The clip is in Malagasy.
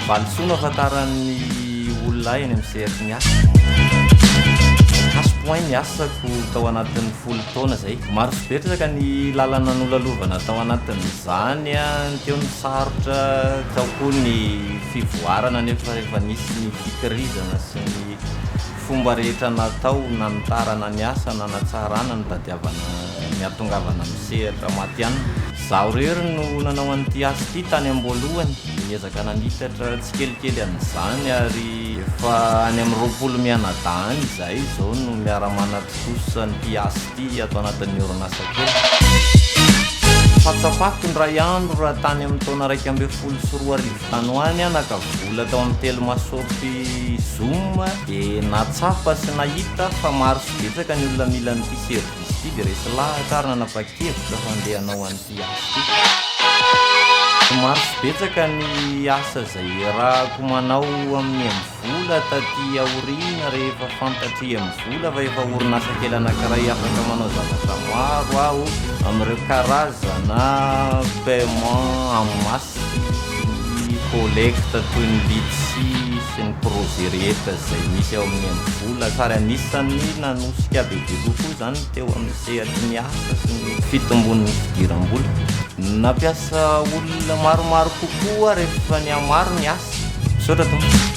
Valisoa no ahafantaran'ny olona ahy eny amin'ny sehatry ny asa. Cash point ny asako tao anatin'ny folo taona izay. Maro sy betsaka ny lalana nolalovana tao anatin'izany. Teo ny sarotra, tao koa ny fivoarana nefa efa nisy ny fikirizana sy ny. ny fomba rehetra natao nanitarana ny asa nanatsarana ny tadiavana ny hahatongavana amin'ny sehatra matihanina. Izaho irery no nanao an'ity asa ity tany am-boalohany, niezaka nanitatra tsikelikely an'izany ary efa any amin'ny roapolo mianadahy any izahay izao no miara-manatontosa an'ity asa ity ato anatin'ny orinasa kely. Fahatsapako indray andro raha tany amin'ny taona iraika ambin'ny folo sy roa arivo Tany ho any aho naka vola tao amin'ny telmashop zoom dia nahatsapa sy nahita fa maro sy betsaka ny olona mila an'ity service ity dia resy lahatra ary nanapa-kevitra fa handeha hanao an'ity asa ity. Maro sy betsaka ny asa izay iarahako manao amin'i Emvola taty aoriana rehefa fantatr'i Emvola fa efa orinasa kely anankiray afaka manao zavatra maro aho amin'ireo karazana paiement en masse. Ny collecte toy ny litchi sy ny projet rehetra izay misy ao amin'ny Mvola ary anisan'ny nanosika be dia kokoa izany teo amin'ny sehatry ny asa sy ny fitombon'ny fidiram-bola. Nampiasa olona maromaro kokoa rehefa nihamaro ny asa. Misaotra tompoko.